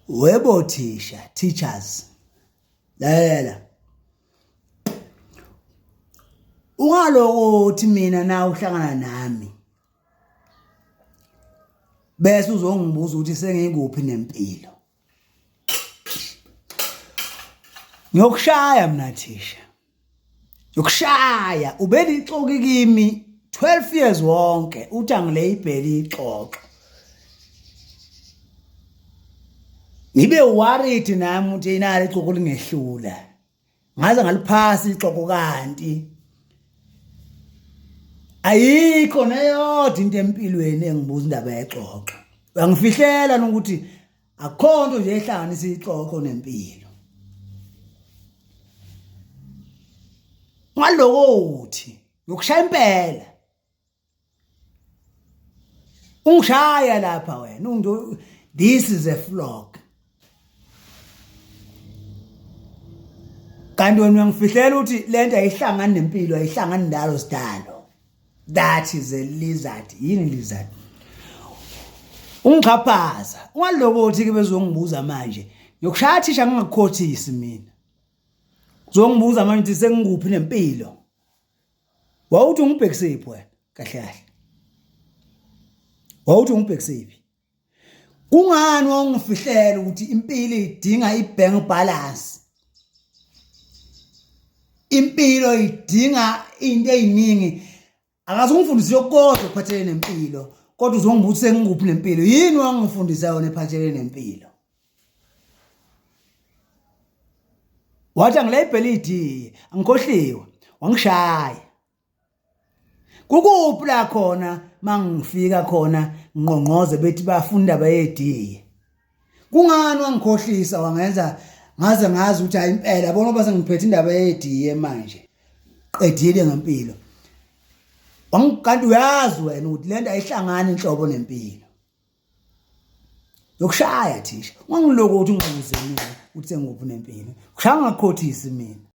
webo thisha teachers lalela ungaloko uthi mina na uhlangana nami bese uzongibuza ukuthi sengikuphi nempilo ngiyokushaya mina thisha yokushaya ubelixoki kimi 12 years wonke uthi angileyibheli ixoxo ngibe worried nami ukuthi inali ixoxo lingehlula ngaze ngaliphasi ixoxo kanti ayikho neyodwa into empilweni engibuza indaba yexoxo uyangifihlela ukuthi akho nto nje ehlanganisa ixoxo nempilo ngaloko uthi yokushaya impela ungishaya lapha wena unto this is a flock kanti wena uyangifihlela ukuthi lento ayihlangani nempilo ayihlangani ndalo sidalo that is a lizard yini lizard ungixhaphaza ungalokothi ke bezongibuza manje ngiyokushaya thisha ngingakukhothisi mina uzongibuza manje ukuthi sengikuphi nempilo wawuthi ungibhekisephi wena kahle kahle wawuthi ungibhekisephi Kungani wawungifihlela ukuthi impilo idinga ibank balance? Impilo idinga into eziningi. Akazungifundisi yokodwa ukuphathelene nempilo, kodwa uzongibuthi sengikuphi nempilo. Yini wangifundisa yona ephathelene nempilo? Wathi angilebheli idie, angikhohliwe, wangishaya. kukuphi la khona mangifika khona ngqongqoze bethi bafunda bayediye kungani wangikhohlisa wangenza ngaze ngazi ukuthi hayi impela bona base ngiphethe indaba yediye manje qedile ngempilo wangikanti uyazi wena ukuthi lento ayihlangani inhlobo nempilo yokushaya thisha wangiloku ukuthi ungqongozeni ukuthi sengikuphi nempilo kushaya ngakhothisi mina